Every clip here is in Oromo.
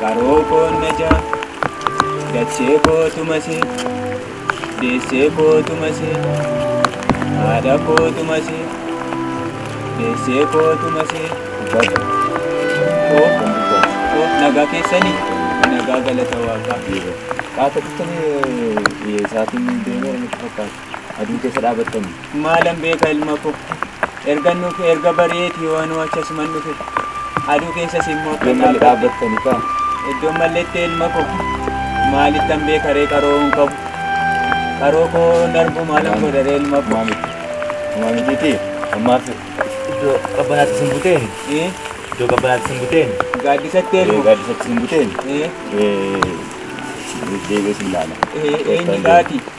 Qaroo koo najaa dachee koo tumasee deessee koo tumasee haadha koo tumasee deessee koo tumasee koo nagaa keessanii nagaa galata waaqaa. Qaata tutanii sa'aatiin deemeera natti fakkaata. aduu keessa dhaabattanii. Maalan beeka ilma koo. Ergan dhufe erga bari'eeti yoo anuu achi asuman dhufe. Aduu keessas immoo Iddoon malee dhaabbattanii kaa. Iddoon malleetti ilma koo. Maalittan beeka ree qaroo hin qabu. Qaroo koo narbu maalan godha ree ilma koo. Homaa mitiitii ammaaf iddoo qabbanaatti sin buteen Eh, iddoo qabbanaatti sin buteen Gaaddisatti ilma. gaaddisatti sin buteen Eh, deebi'ee sin laala. eh, eenyu gaati?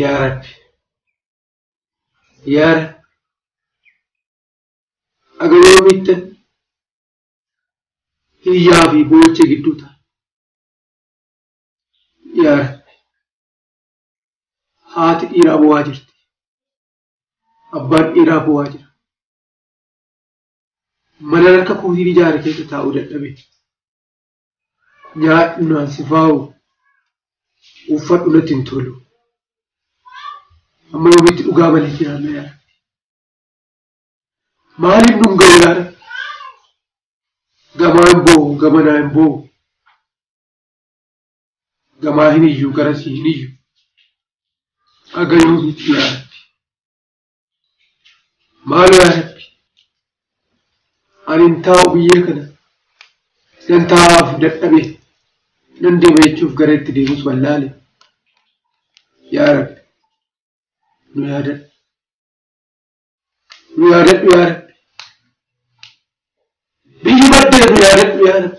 yaa rabbi yaa rabbi aga yoomiitti hiyyaa fi boocha gidduu ta'a yaa rabbi haati dhiiraa bu'aa jirti Abbaan dhiiraa boo'aa jira. Mana harka kootiin ijaare keessa taa'uu dadhabe. Nyaadhu naan sifaa'u. Uffadhu natti hin tolu. Amma yoomitti dhugaa malee jiraanna yaa Rabbi. Maaliif nun ga'u yaa Rabbi? Gamaa hin boo'u, gamanaa hin boo'u. gamaa hin iyyu garasii hin iyyu haga yoomitti yaa rabbi maalo yaa rabbi ani hin taa'u biyyee kana nan taa'aaf dadhabe nan deema jechuuf gara itti deemus wallaale yaa rabbi nu yaadadhu nu yaadadhu yaa rabbi biyyi baddee nu yaadadhu yaa rabbi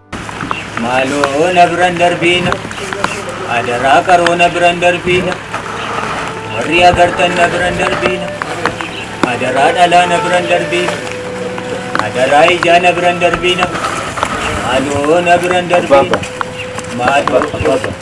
Maaloo na biran darbiina adaraa qaroo na biran darbiina warri agartan na biran darbiina adaraa dhalaa na biran darbiina adaraa ijaa na biran darbiina maaloo na biran darbiina maaloo.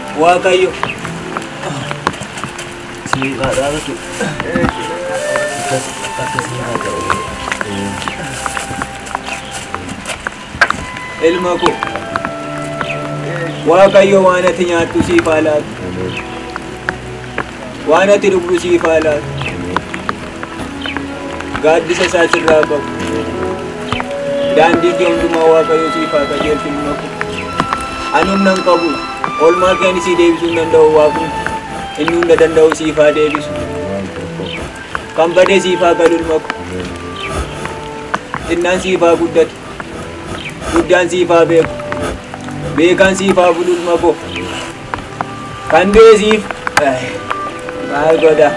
Waaqayyo siin haa dhaabatu. Akkas akkasii haa ta'u. Ilma koo Waaqayyo waan ati nyaattu siif haa laatu. Waan ati dhugdu siif haa laatu. Gaaddisa isaa sirraa qabu. Daandii kee hundumaa Waaqayyo siif haa qajeelchu ilma koo. Ani humna hin qabu. Oolmaa kee ani sii deebisuu hin danda'u Waaqni. Inni hunda danda'u siif haa deebisu. Kan bade siif haa galu ilma koo. Xinnaan siif haa guddatu. Guddaan siif haa beeku. Beekaan siif haa bulu ilma koo. Kan du'e siif maal godha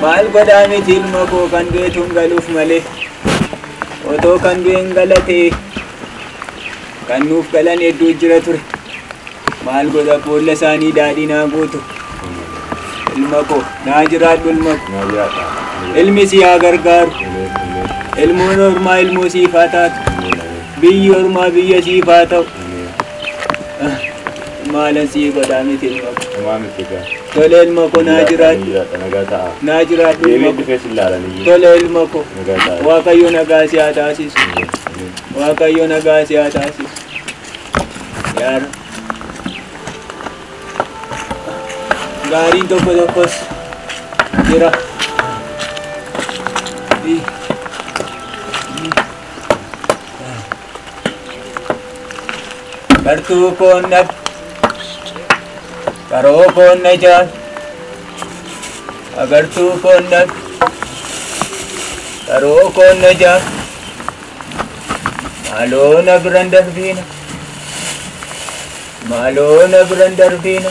maal godha miti ilma koo kan du'e tun galuuf malee otoo kan du'e hin galate kan nuuf galan hedduu jira ture maal godha boolla isaanii daadhii naa guutu ilma koo naa jiraadhu ilma koo ilmi si haa gargaaru ilmoon ormaa ilmoo siif haa taatu biyyi ormaa biyya siif haa ta'u. Maala sii godhaa miti ilma ko. Homaa miti egaa. Tole ilma ko naa jiraadhu. Jiraadha nagaa ta'a. Naa jiraadhu ilma Deebiin ko. dhufee si ilaalan iyyuu. Tole ilma ko. Nagaa ta'a. Waaqayyo nagaa si haa taasisu. Waaqayyo nagaa si haa taasisu. Yaa Rabbi. Gaariin tokko tokkos jira. Ii. Gartuu koon dhab qaroo koon na jaal agartuu koon dhab qaroo koon na jaal maaloo na biran darbiina maaloo na biran darbiina.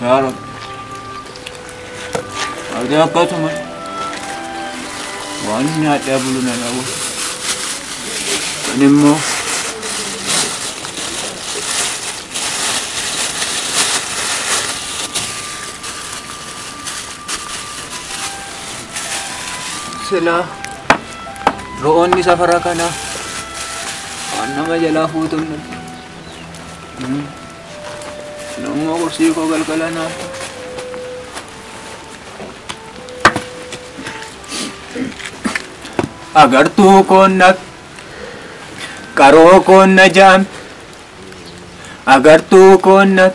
Yaa Rabbi. Ati akkasuma waan nyaadhaa bulu na dhabu. Ani immoo silaa ro'oonni safara kanaa waan nama jalaa fuutuun Nammoo gorsii koo galgala naaf ta'a. Agartuu koon naf qaroo koon na jaam agartuu koon naf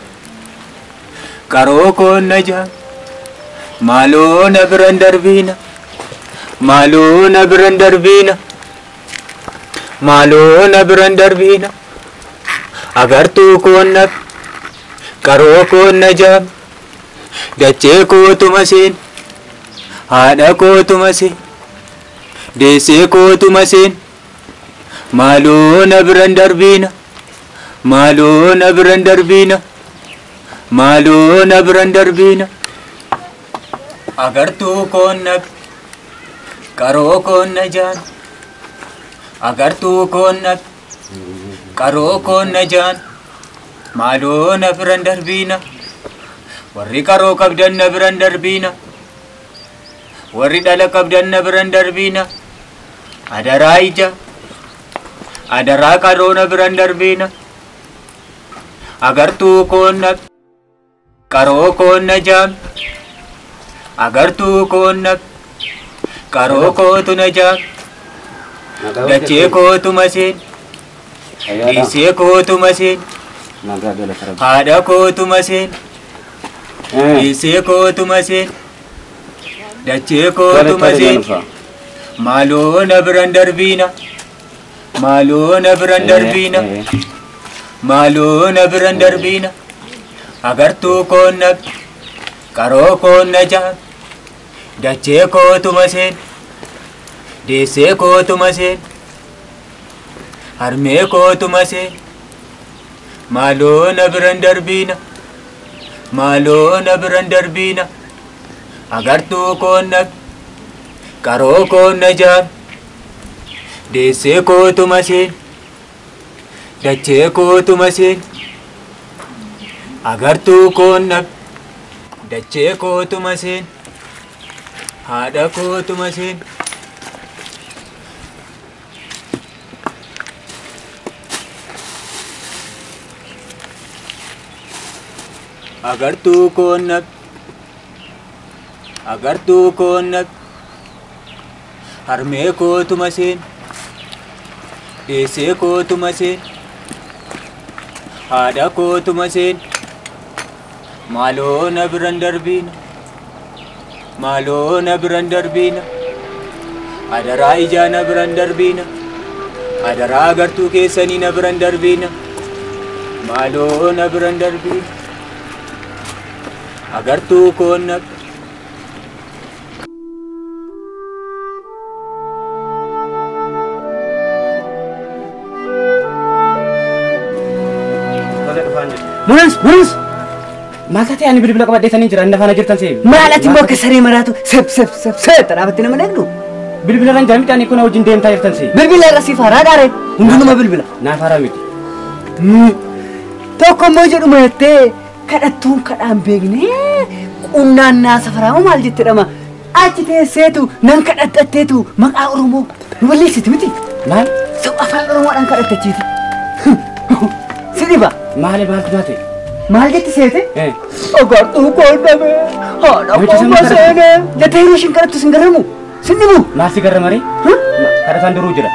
qaroo koon na jaam maaloo na biran darbiina maaloo na biran darbiina. maaloo na biran darbiina agartuu koon naf qaroo koon na jaam dachee kootuma seen haadha kootuma seen deessee kootuma seen maaloo na biran darbiina maaloo na biran darbiina maaloo na biran darbiina. Agartuu koon nag qaroo koon najaan Agartuu koon nag qaroo koon najaan Maaloo na biran darbiina Warri qaroo qabdan na biran darbiina Warri dhala qabdan na biran darbiina Adaraa ija Adaraa qaroo na biran darbiina Agartuu koon nag Qaroo koon na jaam agartuu koon na qaroo kootu na jaam dachee kootu maseen dhiisee kootu maseen haadha kootu maseen dhiisee kootu maseen dachee kootu maseen maaloo na biran darbiina. Maaloo na biran darbiina. Maaloo na biran darbiina. Agartuu koon na qaroo koon na jaan. Dachee kootuma seen. Deessee kootuma seen. Harmee kootuma seen. Maaloo na biran darbiina. Maaloo na biran darbiina. Agartuu koon na qaroo koon na jaan. Deessee kootu masiin dachee kootu masiin agartuu koon dhab dachee kootu masiin haadha kootu masiin. agartuu koon dhab agartuu koon dhab. Harmee kootu maseen deessee kootu maseen haadha kootu maseen maaloo na biran darbiina maaloo na biran darbiina adaraa ijaa na biran darbiina adaraa agartuu keessanii na biran darbiina maaloo na biran darbiina agartuu koon na Munas, munas. Maal taatee ani bilbila qabadhee sanii jira inni faana jirtan seebi. Maal ati immoo akka saree maraatu sep sep sep sep dhaabatte nama dhagdu. Bilbila irra hin jira midhaan kun wajjin deemtaa jirtan seebi. Bilbila irra siif haaraa dhaare hundinuma bilbila. Naaf haaraa miti. Tokko immoo jedhuma jettee Kadhattuun kadhaan beekne qunnaan naa safaraama maal jette dhama achi teesseetu nan kadhattatteetu maqaa Oromoo nu balleessiti miti. Maal? Sab afaan Oromoodhaan kadhattachiiti. Si dhiba. Maali maaltu taate? Maal jetti seete? Eh. Agartuu qoodame haadha Namicha qofa sana kadhatu. seene jettee yeroo ishiin kadhattu sin garamu sin dhibu. Maal si garra maree? Kadhataan duruu jira.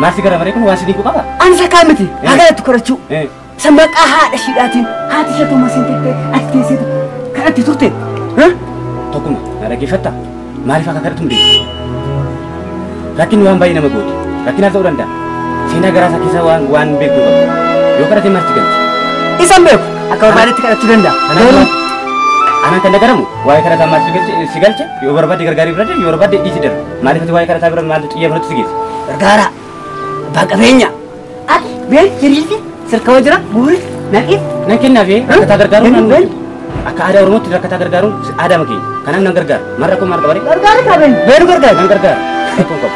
Maal si garra maree kun waan si dinqu qaba? Ani sakaa miti haa kadhattu kadhachuu. Eh. Isa maqaa haadha ishiidhaatiin haati ishee tuma siin jettee ajjeeseetu kadhatti turte. Ha? Tokkuma na dhaggeeffatta maaliif akka kadhatu hin beeku. Rakkinni waan baay'ee nama goote rakkinaaf ta'uu danda'a. Seenaa garaa isaa keessaa waan waan beektu qaba. Yoo kadhate maaf itti galti? Isan beeku akka barbaadetti kadhachuu danda'a. Garuu Anaan kan dhagaramu waa'ee kadhataa maaf si galche- si galche yoo barbaadde gargaarii bira deemi yoo barbaadde dhiisi darba. Maaliif ati waa'ee kadhataa bira maaltu xiyyeeffannootti si geesse? gargaara abbaa qabeenya Ati been hiriirti sirkama jira buuris naqi nan kennaaf ee rakkataa gargaaruun Kennu, nan akka aadaa oromootti rakkataa gargaaruun aadaa makeenya kanaaf nan gargaara maal rakkoo maal qabaree gargaara qaben beenu gargaara nan gargaara rakkoo qabu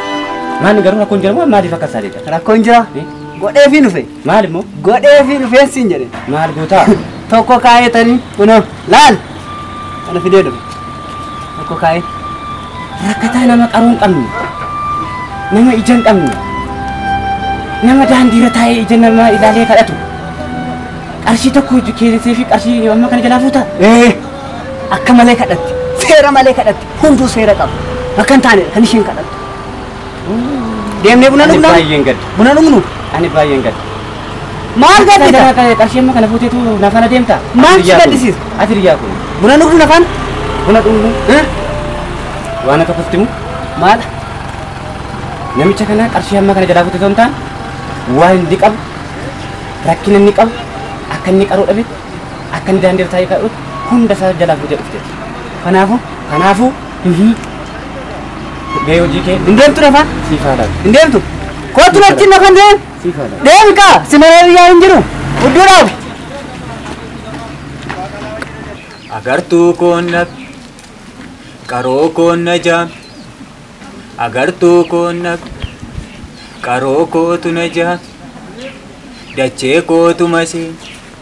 maanni garuu rakkoon jira moo maaliif akka isaa deeta rakkoon jira Eh? godhee fi dhufe maal immoo godhee fi dhufeen siin jedhe maal gootaa tokko kaayetanii kunoo laal Kana fidee dhufe. Tokko kaa'ee. Rakkataa nama qaroo hin qabne. Nama ija hin qabne. Nama daandiirra taa'ee ija namaa ilaalee kadhatu. Qarshii tokko hojii keessee fi qarshii amma kana jalaa fuuta. Ee akka malee kadhatti. Seera malee kadhatti. Hunduu seera qaba. Akka hin taane kan isheen kadhattu. Deemnee buna Ani dhugnaa? baay'een gadda. Buna dhugnu? Ani baay'een gadda. Maal Kana gaddita? kana qarshii amma kana fuuteetu na faana deemta. Maal Ati si hiriyaa kun. gaddisiisa? Ati hiriyaa kun. Buna dhugnu nafaan? Buna dhugnu. Waan akka kuftimu. Maal? Namicha kana qarshii amma kana jalaa fuutee osoo hin taane waan inni qabu rakkina inni qabu akka inni qaroo dhabe akka inni daandii irra taa'ee qaroo hunda isaa jalaa fuutee dhufte. Kanaafuu kanaafuu Mee hojii kee Hin deemtu lafa? siif haa laatu. Hin deemtu? Kootu natti lafa hin deemu? Siif haa laatu. Deemi kaa! Si malee biyyaa hin jiru. Udduu dhaabu. Agartuu koonna qaroo koonna jaam agartuu koonna qaroo kootu na jaam dachee kootu masee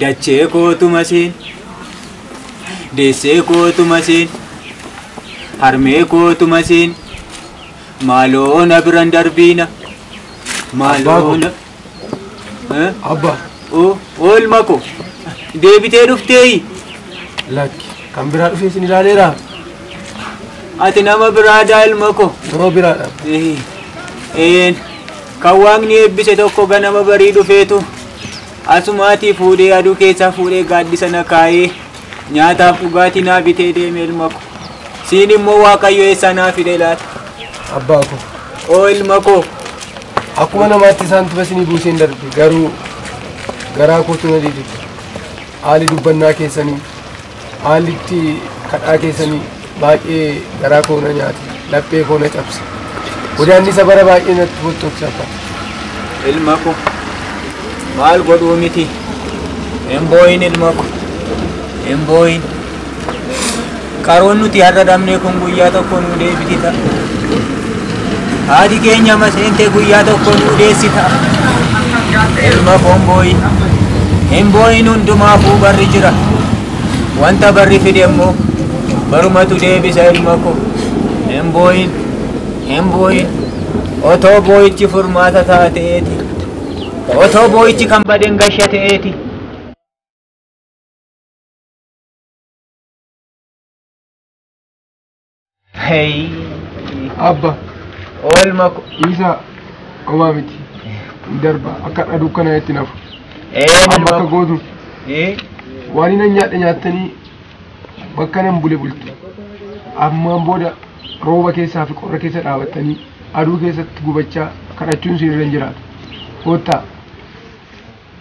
Dachee kootu masiin deessee kootu masiin harmee kootu masiin maaloo na biran darbiina maaloo na Eh? Abba, O- oolma ko deebitee dhufteeyi lakki. Kan biraa dhufee isin ilaaleera. ati nama biraadaa ilma ko Yeroo biraadha. Eh, een, kan waaqni eebbise tokko ganama barii dhufeetu Asumaatii fuudhee aduu keessaa fuudhee gaaddisa na kaa'ee nyaataaf dhugaatii naa bitee deeme ilma ko. Siin immoo Waaqayyo eessaa naa fide laata? Abbaa koo. Oo ilma koo. Akkuma namaatti isaan tufa isinii buuseen darbe garuu garaa kootu na didide. Haali dubbannaa keessanii. Haalli itti kadhaa keessanii baay'ee garaa koo na nyaate, laphee koo na cabse. Godaannisa bara baay'ee natti fottokse abba. Ilma ko maal godhuu miti hin boo'in ilma ko hin boo'in. Qaroon nuti har'a dhabne kun guyyaa tokko nuu deebiti ta'a. Haati keenya amma seentee guyyaa tokko nuu deessita. Ilma koon booyi. Hin booyin hundumaafuu barri jira. Wanta barri fide immoo barumatu deebisa ilma koo. Hin booyin. Hin booyin. Otoo booyichi furmaata ta'a ta'eeti. Otoo booyichi kan baden gasha ta'eeti. Hey. Abba. Oolma ko. Isa homaa miti. Darba akka dhaduu kana itti nafu. Ee Amma akka nalma. gootu Ee. waan inni nyaadhe nyaattanii bakka nan bule bultu. Ammaan booda rooba keessaa fi qorra keessa dhaabattanii aduu keessatti gubachaa kadhachuun isin irra hin jiraatu. Koottaa.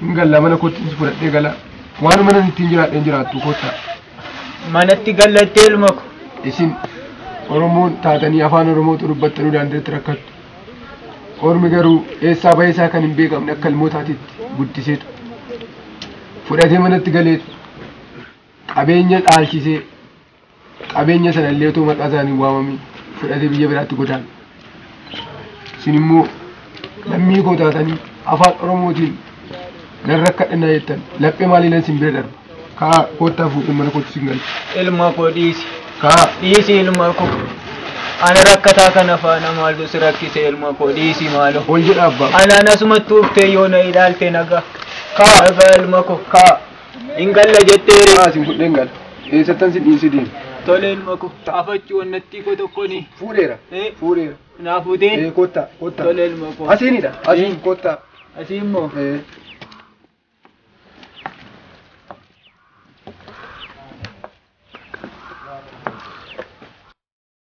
Hin galla mana kootti isin fudhadhee gala. Waan mana ittiin jiraadheen jiraattu koottaa. manatti gallattee ilma ko. Isin Oromoon taatanii afaan Oromootu dubbattanii daandiratti rakkattu. Ormi garuu eessaa bahee isaa kan hin beekamne akka ilmootaatitti guddiseetu. Fudhatee manatti galeetu. Qabeenya dhaalchisee qabeenya sanallee otoo maqaa isaanii waamamii fudhatee biyya biraatti godaana. isin immoo lammii koo taatanii afaan oromootiin nan rakkadhannaa jettan laphee maaliinan isin bira darba kaa koottaa fuudhee mana kootti isin galcha ilma koo dhiisi kaa dhiisi ilma koo ana rakkataa kana faana maaltu si rakkise ilma koo dhiisi maaloo ol jedha abbaa anaan asumatti uftee yoo na ilaalte nagaa kaa nagaa ilma koo kaa Hin galla jettee ree. Maa isin fudheen gala. Eessattan si dhiisi deema. Tole ilma ko. Afachuu wannattii ko tokkoni. Fuudheera. Eh. Fuudheera. Naa fuutee. Ee kottaa kottaa. Tole ilma ko. Asiinidha. Asiin Eh. kottaa. Asii immoo. Ee.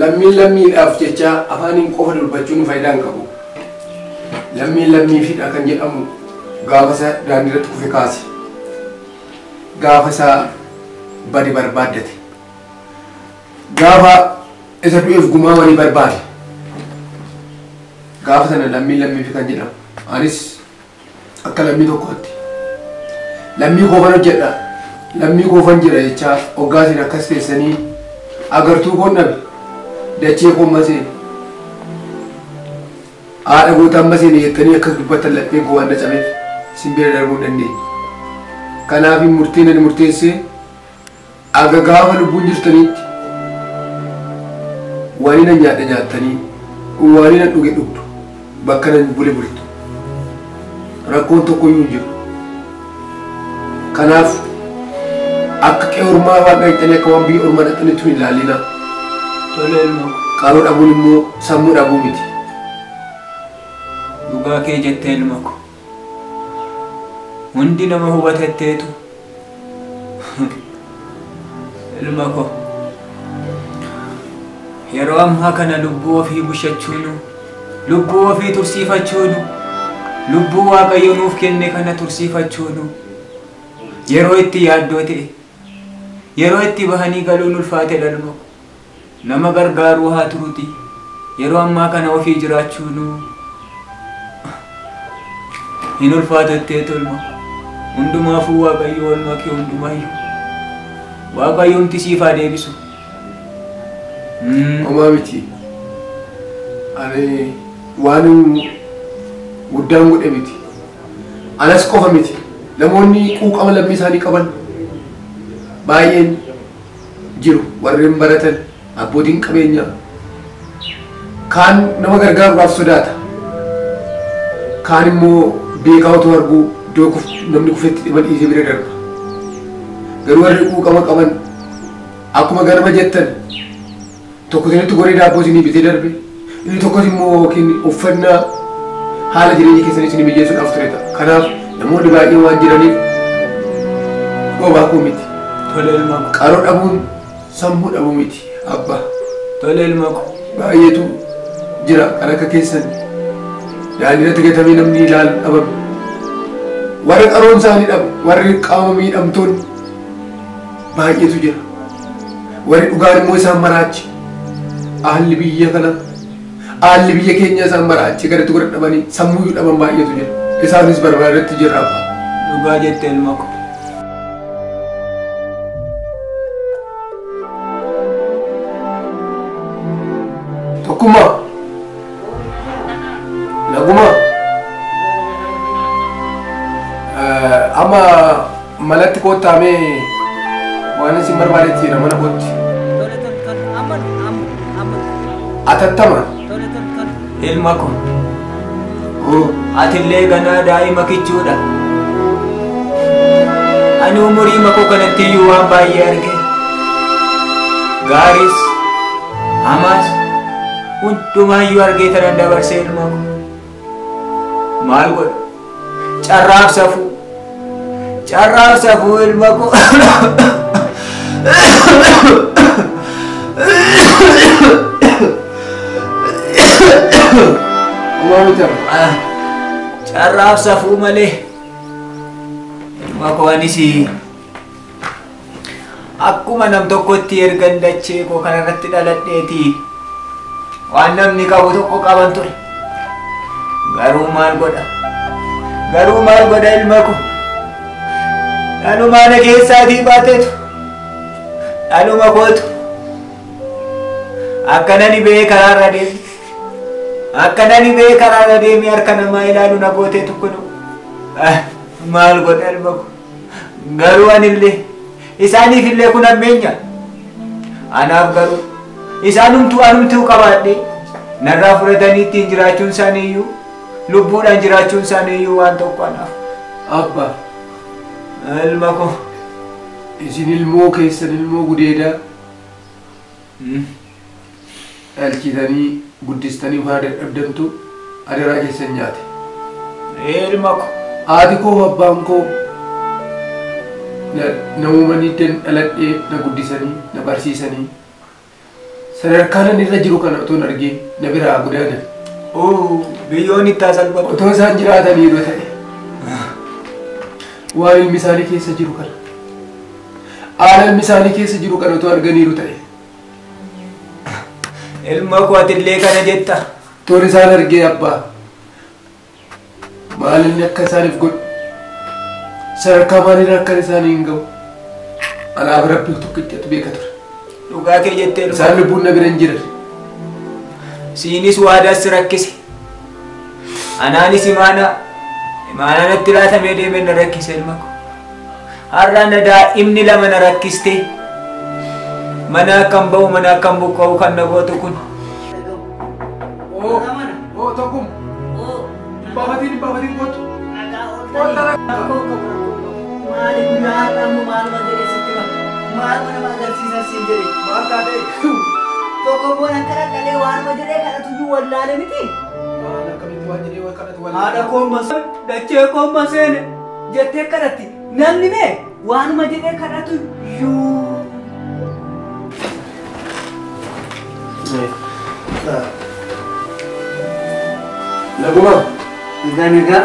Lammiin lammiidhaaf jecha afaaniin qofa dubbachuun faayidaa hin qabu. Lammiin lammiifidha kan jedhamu gaafa isa daandii irratti kufe kaase. Gaafa isa bade barbaaddate. Gaafa isa du'eef gumaa walii barbaade. Gaafa sana lammiin lammiifi kan jedhamu. Anis Akka lammii tokkootti lammii koofan hojjedha lammii koofan jira jechaa hoggaasiin akkas teessanii agartuu koon dhabe dachee koon maseen haadha gootaan maseen jettanii akkas dubbattan lapheen koo waan na cabeef sin bira darbuu hin dandeenye. Kanaaf murteen ani murteessee Aga gaafa lubbuun jirtaniitti waaniin an nyaadhe nyaattanii, waaniin an dhuge dhugdu, bakkan an bule bultu. Rakkoon tokkoyyuu hin jiru. Kanaaf akka qe'ee ormaa waan dhaqxanii akka waan biyya ormaa dhaqxanitti hin ilaallinaa. Tole ilma ko. Qaroo dhabuun immoo sammuu dhabuu miti. Dhugaa kee jette ilma ko. Hundi nama hubatetteetu ilma koo yeroo ammaa kana lubbuu ofii bushachuunu lubbuu ofii tursiifachuunu lubbuu waaqayyo nuuf kenne kana tursiifachuunu yeroo itti yaaddoo ta'e yeroo itti bahanii galuun ulfaatedha ilma koo. nama gargaaruu haa turuti yeroo ammaa kana ofii jiraachuunu hin ulfaatu ittee tolma hundumaafuu waaqayyo olma kee hundumaayyu waaqayyoomti siif haa deebisu Mm. Homaa miti. Ani waan guddaan godhe miti. Anas qofa miti. Namoonni quuqama lammii isaanii qaban baay'een jiru warreen baratan abbootiin qabeenyaa kaan nama gargaaruudhaaf sodaata kaan immoo beekaa otoo arguu iddoo kuf- namni kufetti dhima dhiisee bira darba garuu warri quuqama qaban akkuma ganama jettan Tokko isinitti goree daabboo isinii bitee darbe, inni tokkos immoo yookiin uffannaa haala jireenya keessan isinii mijeessuudhaaf ture ta'a. Kanaaf namoonni baay'een waan jiraniif dhoobaa koo miti. Tole ilma ko. Qaroo dhabuun sammuu dhabuu miti abba. Tole ilma ko. Baay'eetu jira kan akka keessan daandii irratti gatamee namni ilaalu dhabame. Warra qaroon isaanii dhabu, warri qaama miidhamtoonni baay'eetu jira. Warri dhugaan immoo isaan maraache. Haalli biyya kana haalli biyya keenya isaan maraache gaditti godha dhabanii sammuu dhaban baay'eetu jira. Isaanis barbara irratti jirra abbaa. Dhugaa jette ilma ko. Tokkummaa. Nagumaa. Eh, Amma Manatti koottaa mee waan isin barbaadetti jira mana kootti. Tole tole tole. Amma amma amma. Atattama. Tole tole tole. Ilma ko. Oo, Atillee ganaa daa'ima kichuudha. Ani umurii makoo kanatti iyyuu waan baay'ee arge. Gaaris, hamaas, hundumaayyuu argee tanan dabarsee ilma ko. Maal godha? Carraaf safuu. Carraaf safuu ilma koo. Carraaf safuu malee. Ilma koo anis Akkuma nam tokkotti ergan dachee koo kana irratti dhaladheeti. Waan namni qabu tokko qaban ture. Garuu maal godha? Garuu maal godha ilma koo? Dhalumaana keessaatii baateetu. Dhaluma kootu. Akkana ni bee karaa irra deemi. Akkana ni bee karaa irra deemi harka namaa ilaalu na gootee tokko nu. Maal godha ilma koo? Garuu anillee isaaniif illee kun hammeenya. Anaaf garuu isaanumtuu anumtuu qabaadhee narraa fudhatanii ittiin jiraachuun isaanii iyyuu lubbuudhaan jiraachuun isaanii iyyuu waan tokko anaaf. Abba, Ilma koo. isin ilmoo keessan ilmoo gudeedaa Dhalchitanii guddistanii kaa dadhabdantu adaraa keessan nyaate. Ee ilma ko, haati koo fi abbaan koo na na uumanii iddan dhaladhee na guddisanii na barsiisanii sadarkaa nan irra jiru kana otoo hin argiin na biraa haa godaanan. Oo biyyoon itti haa salphatu. Otoo isaan jiraatanii yoo ta'e waan ilmi isaanii keessa jiru kana Haala ilmi isaanii keessa jiru kana otoo arganiiru ta'e. Ilma koo atillee kana jetta. Toon isaan argee abbaa. Maal inni akka isaaniif godhu. Sadarkaa maaliirra akka isaanii hin ga'u. Anaaf rabbii tokkichatu beeka ture. Dhugaa kee jettee dhufa. Isaan lubbuun na bira hin jiran. Siinis waadaas si rakkise. Anaanis imaanaa imaanaa natti laatamee deemee na rakkise ilma koo. Har'a na daa'imni lama na rakkistee mana akkan ba'u mana akkan buqqa'u kan na gootu kun. Haadha koon maseen dachee koon maseen. jettee kadhatti. Namni mee waanuma jedhee kadhatu iyyuu. Naguma. Nagaa nagaa.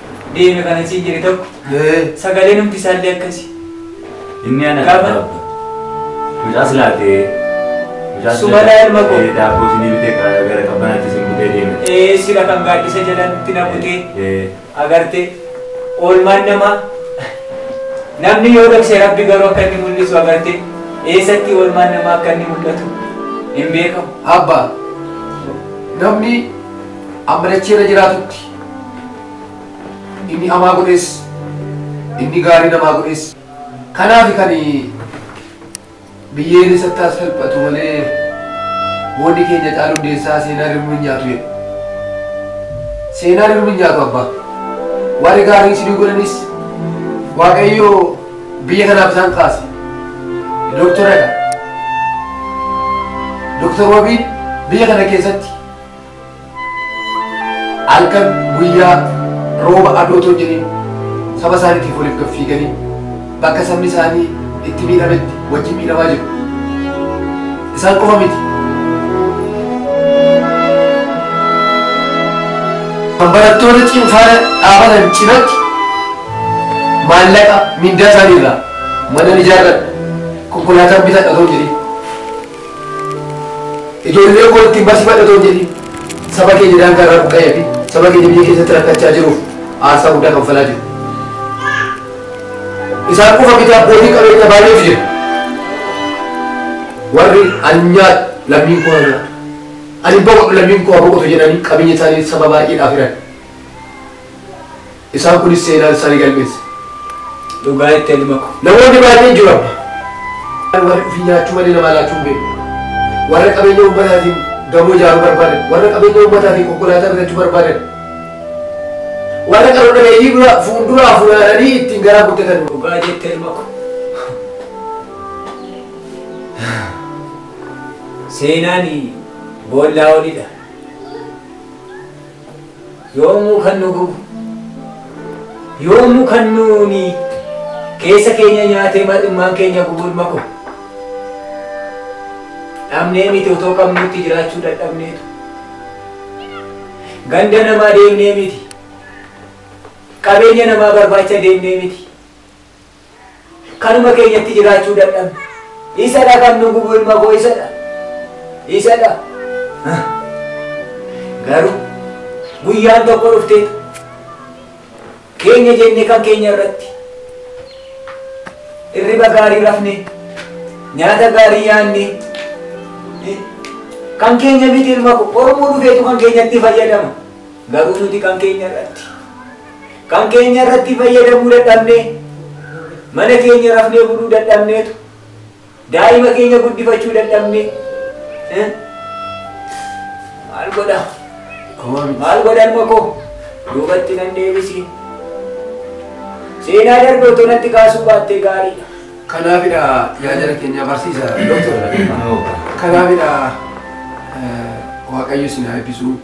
deeme kana siin jedhe tokko sagalee numti isaallee akkasi. Inni ana Gaafa- gaafata. Mucaa silaatee. Mucaa Sumalaa ilma koo. Eh, Daabboo sinii bitee ka- gara qabbanaatti sin butee deeme. Ee sila kan gaaddisa jalatti na butee Eh, agartee oolmaan namaa namni yoo dhokse rabbi garuu akka inni mul'isu agartee eessatti oolmaan namaa akka inni mul'atu hin beekamu. Abba, namni amma dachee irra jiraatutti Inni hamaa godhes, inni gaarii namaa godhes. Kanaafi kan biyyeen isatti haa salphatu malee boonni keenya caalu hundeessaa seenaan hirmuu hin nyaatu jedhe. Seenaan hirmuu hin nyaatu abbaa. Warri gaarii isinii godhanis Waaqayyo biyya kanaaf isaan kaase. Dooktoradha. Dooktor Wabiin biyya kana keessatti halkan guyyaa rooba adootoo jedhin saba isaaniitiif waliif gaffiiganii bakka sabni isaanii itti miidhametti wajjin miidhamaa jiru. Isaan qofa miti. Kan barattoota cimfaana dhaabatan cinatti maallaqa mindaa isaanii irraa mana ijaarradha konkolaataan bitadha otoo jedhin Ijoollee koo ittiin barsiifadha otoo hin jedhiin saba keenya daangaa irraa buqqa'ee fi saba keenya biyya keessatti rakkachaa jiruuf aarsaa guddaa kanfalaa jiru. Isaan qofa miti abbootii qabeenya baay'eetu jira. Warri anyaa lammiin koo anyaa ani boqodhu lammiin koo boqotu jedhanii qabeenya isaanii saba baay'eedhaaf hiran. Isaan kunis seenaan isaa ni galmeessa. Dhugaa itti elma ko. Namoonni baay'een jiru amma. Warri ofii nyaachuu malee namaa laachuu hin beekne. Warra qabeenya uummataatiin gamoo ijaaruu barbaadan. Warra qabeenya uummataatiin konkolaataa bitachuu barbaadan. Warra qaroo dhabeeyyii dura fuulduraa funaananii ittiin garaa guuttatan. Dhugaa jette elma ko. Seenaan boollaa olidha. Yoomuu kan nu gubu, yoomuu kan nuuni keessa keenya nyaatee mar'immaan keenya gubu ilma koo. Dhabnee miti otoo qabnutti jiraachuu dadhabneetu. Ganda namaa deemnee miti. Qabeenya namaa barbaacha deemnee miti. Kanuma keenyatti jiraachuu dadhabne. Isadha kan nu gubu ilma koo isadha. Isadha. Garuu guyyaan tokko dhuftee keenya jenne kan keenya irratti irriba gaarii rafne nyaata gaarii yaanne kan keenya miti ilma koo oromoo dhufeetu kan keenyatti fayyadama. Garuu nuti kan keenya irratti kan keenya irratti fayyadamuu dadhabnee, mana keenya rafnee buluu dadhabneetu, daa'ima keenya guddifachuu dadhabnee, eh? maal godha? Maal godha ilma koo? Duubatti nan deebisi. Seenaa darbe otoo natti kaasuu baattee gaariidha. Kanaafidha yaa jara keenya barsiisa doktora. Kanaafidha eh, waaqayyo isin haa eebbisu.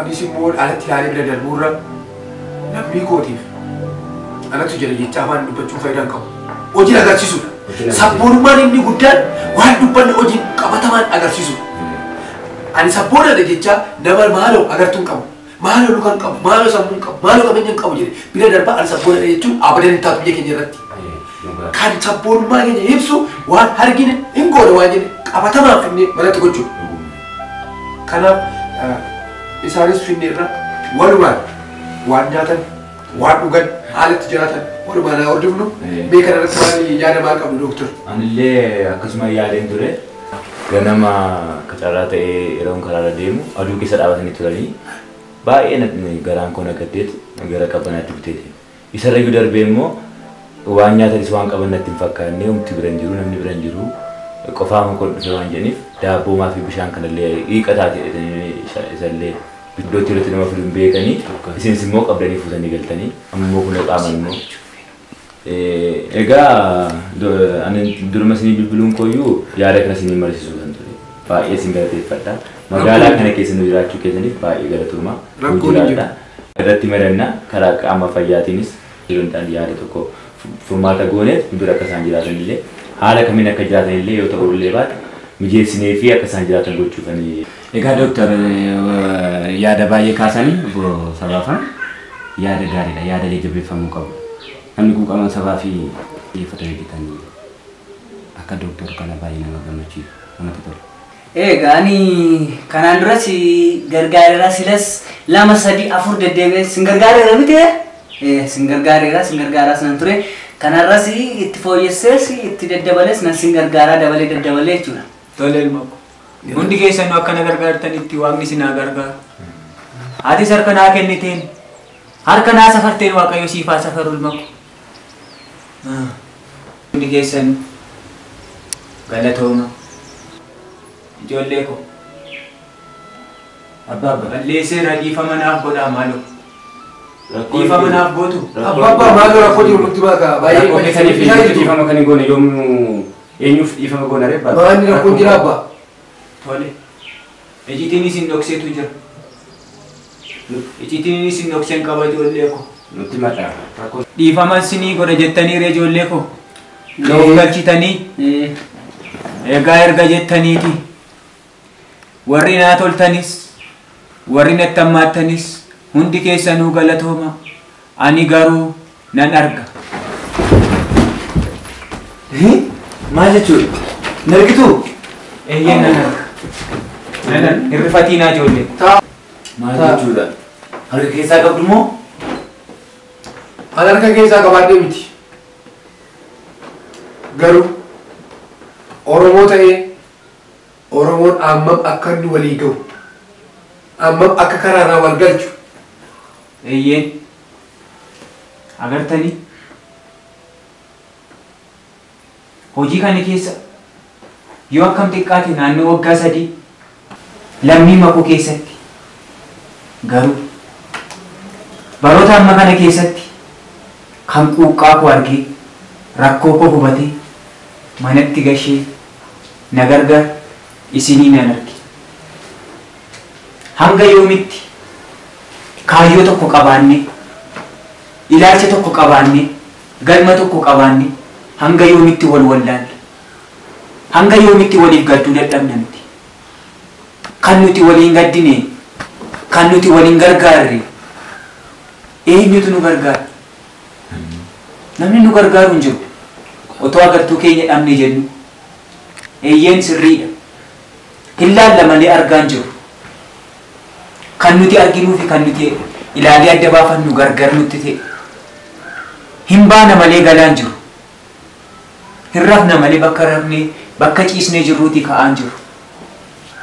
Anis immoo alatti ilaalee bira darbuurra lammii kootiif anatu jedhe jechaa afaan dubbachuun faayidaa hin qabu. Hojiin agarsiisudha. Sabboonummaan inni guddaan waan dubbanne hojiin qabatamaan agarsiisudha. Ani sabboonadha jechaa nama maaloo agartuun qabu. Maaloo lukaan qabu, maaloo sammuun qabu, maaloo qabeenyaan qabu jedhe bira darbaa ani sabboonadha jechuun abadan hin taatu biyya keenya irratti. Kan sabboonummaa keenya ibsu waan argine hin goone waan jenne qabatamaan finnee manatti gochuudha. Kanaaf isaanis finneerra walumaan waan nyaatan waan dhugan haala itti jiraatan walumaan haa hordofnu mee kana irratti maal yaada maal qabdu dooktar? Anillee akkasuma yaadeen ture ganama akka carraa ta'ee yeroon karaarra deemu aduu keessa dhaabatanii turanii baay'ee na- garaan koo na gaddeetu gara qabbanaatti buteeti. Isarrayyuu darbee immoo waan nyaatanis waan qaban natti hin fakkaanne, homti bira hin jiru, namni bira hin jiru, qofaama koon dhufe waan jedhaniif daabboo maafi bishaan kanallee hiiqa taati jedhanii isallee iddootti irratti nama fidu hin beekanii isinis immoo qabdanii fuutanii galtanii amma immoo kunoo qaaman immoo egaa ani duruma isinii bilbiluun kooyyuu yaada kana isinii marisiisuu kan ture baay'ee isin galateeffadha magaalaa kana keessa nu jiraachuu keessaniif baay'ee galatooma nu jiraadha. irratti mari'anna. Karaa qaama fayyaatiinis sagantaan yaada tokko furmaata gooneef nu bira akka isaan jiraatan illee haala kamiin akka jiraatan illee yoo ta'uu illee baate mijeessineefii akka isaan jiraatan gochuufani. Egaa Doktar yaada baay'ee kaasani obbo Sabaafan. Yaada gaariidha. Yaadalee jabeeffamuu qabu. Namni kun qaama sabaa fi xiyyeeffatanii hojjetan akka Doktar kana baay'ee nama gammachiisa. Namatti tola. Eega ani kanaan dura si gargaareera silas lama sadii afur deddeebi'een sin gargaareera miti ee sin gargaareera sin gargaaraas nan ture kanarras itti fooyyessees itti daddabalees nan sin gargaaraa dabalee daddabalee jechuudha. Tole ilma ko. Hundi keessanuu akka na gargaartanitti waaqni isin haa gargaaru. Atis harka naa kenniteen harka naa safarteen waaqayyo siif haa safaru ilma ko. Hundi keessan galatooma ijoollee koo. Abbaa abbaa. Balleesseera dhiifama naaf godhaa maaloo. Dhiifama naaf gootu. Abbaa abbaa maaloo rakkoo jiru nutti himaa kaa baay'ee Rakkoo keessaniif isaa eenyutu jirtu. dhiifama kan hin goone yoomuu eenyuuf dhiifama goona ree abbaa? Maanni rakkoon jira abbaa. Tole. Icitiini isin dhoksetu jira. Icitiini isin dhoksen qaba ijoollee ko. Nutti mata rakko. Dhiifama isinii godha jettanii ree ijoollee ko. Na of galchitanii. Egaa erga jettaniiti. Warri naa toltanis warri natti hammaattanis hundi keessanuu galatooma. Ani garuu nan arga. Maal jechuudha? Hin argituu? Eeyyee nan arga. Nan arga. Hin rifatiinaa ijoollee. Maal jechuudha? Harka keessaa qabdu moo? An harka keessaa qabaadhee miti. Garuu Oromoo ta'ee Oromoon ammam akka inni walii gahu, ammam akka karaarraa wal galchu, Eeyyeen. Agartanii? Hojii kana keessa yoo akkam xiqqaate naannoo waggaa sadii lammii makoo keessatti garuu baroota amma kana keessatti kan quuqqaa koo argee rakkoo koo hubatee manatti gashee na gargaar isinii nan arge. Hanga yoomitti kaayyoo tokko qabaannee, ilaalcha tokko qabaannee, galma tokko qabaannee hanga yoomitti wal wallaalla? Hanga yoomitti waliif gadduu dadhabna nuti? Kan nuti walii hin gaddine, kan nuti wal hin gargaarre eenyutu nu gargaara? Namni nu gargaaru hin jiru. Otoo agartuu keenya dhabne jennuu? Eeyyeen sirriidha. Hin laalla malee argaa hin jirru. Kan nuti arginuu fi kan nuti ilaalee adda baafannu gargar nutti ta'e. Hin baana malee galaa hin jirru. Hin rafna malee bakka rafnee, bakka ciisnee jirruutii ka'aa hin jirru.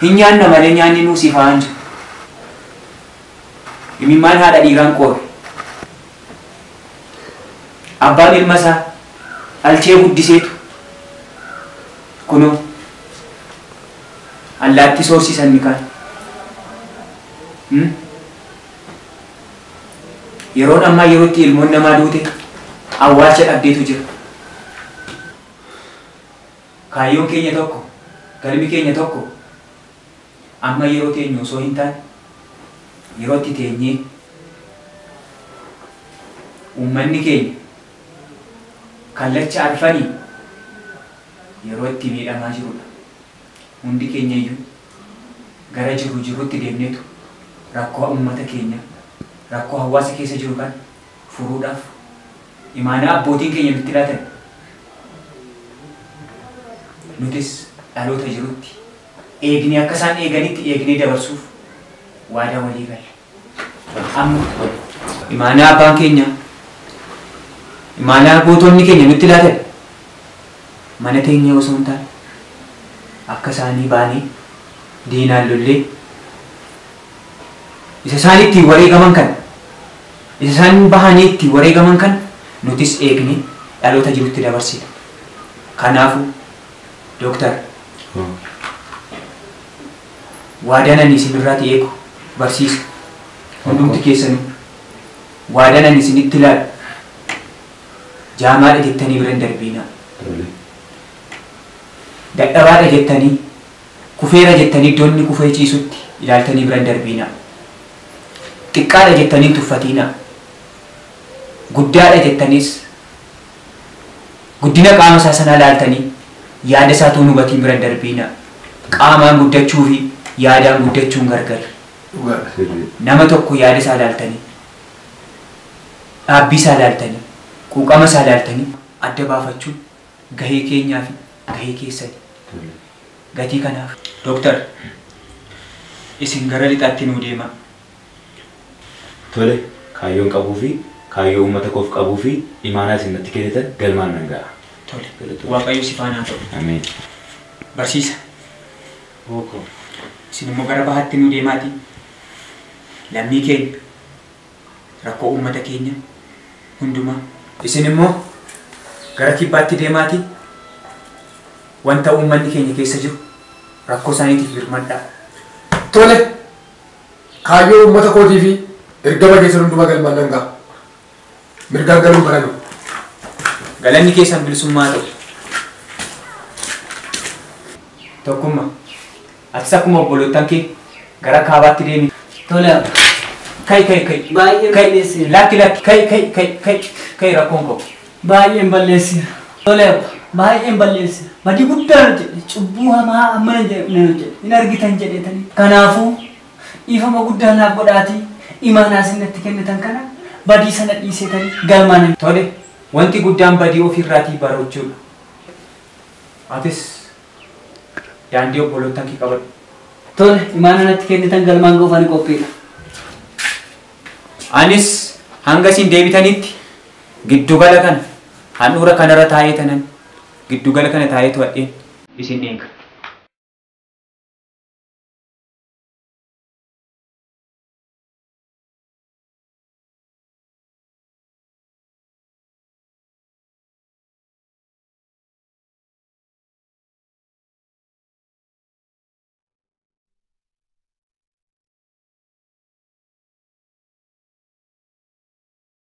Hin nyaanna malee nyaanni nuu sifaa'aa hin jiru. Imimmaan haadha dhiiraa hin qoorre. Abbaan ilma isaa dhalchee guddiseetu kunoo allaattii soorsiisa inni kaan. Yeroon ammaa yeroo itti ilmoon namaa duute awwaalcha dhabdeetu jira. Kaayyoon keenya tokko, galmi keenya tokko. Amma yeroo teenyu osoo hintaane yeroo itti teenyee ummanni keenya kallacha arfaniin yeroo itti miidhamaa jirudha. Hundi keenyayyuu gara jirru jirrutti deemneetu rakkoo ummata keenyaa, rakkoo hawaasa keessa jiru kana furuudhaaf imaanaa abbootiin keenya nutti laatan nutis dhaloota jirutti, eegnee akka isaan eeganitti eegnee dabarsuuf waadaa walii galle. Amma imaanaa abbaan keenya imaanaa gootonni keenya nutti laatan mana teenyee osoo hin taane akka isaanii baanee diinaan lollee isa isaan ittiin wareegaman kana isa isaan bahanii ittiin wareegaman kana nutis eegnee dhaloota jirutti dabarsina. Kanaafuu Dooktar, waadaan ani isin irraati eegu, barsiisu, hundumti keessanuu, waadaan ani isinitti laalu, jaamaadha jettanii bira hin darbiinaa. Tole. Dadhabaadha jettanii, kufeera jettanii iddoo inni kufee ciisutti ilaaltanii bira hin darbiinaa. Xiqqaadha jettanii hin tuffatiinaa. Guddaadha jettaniis Guddina qaama isaa sanaa ilaaltanii yaada isaa utuu hin hubatiin bira hin darbiinaa. Qaamaan guddachuu fi yaadaan guddachuun gargari. Dhugaadha. Sirrii. Nama tokko yaada isaa ilaaltanii, dhaabbii isaa ilaaltanii, quuqama isaa ilaaltanii adda baafachuun gahee keenyaa fi gahee keessani. Gatii kanaaf. Doktar, isin gara lixaatti nuu deemaa. Tole, kaayyoon qabuu fi kaayyoo uummata koof qabuu fi imaanaa isin natti kennitan galmaan nan ga'a. Tole. Galatoomi. Waaqayyo si faana haa ta'u. Ameen. Barsiisa. Ooko. Isin immoo gara bahaatti nuu deemaatii lammii keenya, rakkoo uummata keenya hundumaa. Isin immoo gara kibbaatti deemaatii wanta uummanni keenya keessa jiru rakkoo isaaniitiif birmadhaa. Tole! Kaayyoo uummata kootii fi ergama keessan hundumaa galmaan nan gaha. Mirgaan galuu hin baranu. Galanni keessan bilisummaa haa ta'u. Tokkummaa. Atis akkuma obboloottan kee gara kaabaatti deemi. Tole abba. Kai kai kai. Baay'ee Kai. miidheesseera. Lakki lakki kai kai kai kai kai rakkoon koo. Baay'een balleesseera. Tole Abba, baay'een balleesseera. Badii guddaan hojjedhe. Cubbuu hamaa hammana hin jedhamne nan hojjedhe. Hin argitan jedheetanii. Kanaafuu, dhiifama guddaa naaf godhaatii imaanaa isin natti kennitan kana badii sana dhiiseetanii galmaa nan. Tole, wanti guddaan badii ofii irraatii barachuu dha. Atis daandii obboloottan kee qabadhu. Tole, imaanaa natti kennitan galmaan ga'uuf ani qophii dha. Anis hanga isin deebitanitti. Giddugala kana handhuura kanarra taa'ee tanan giddugala kana taa'ee to'adheen isin eega.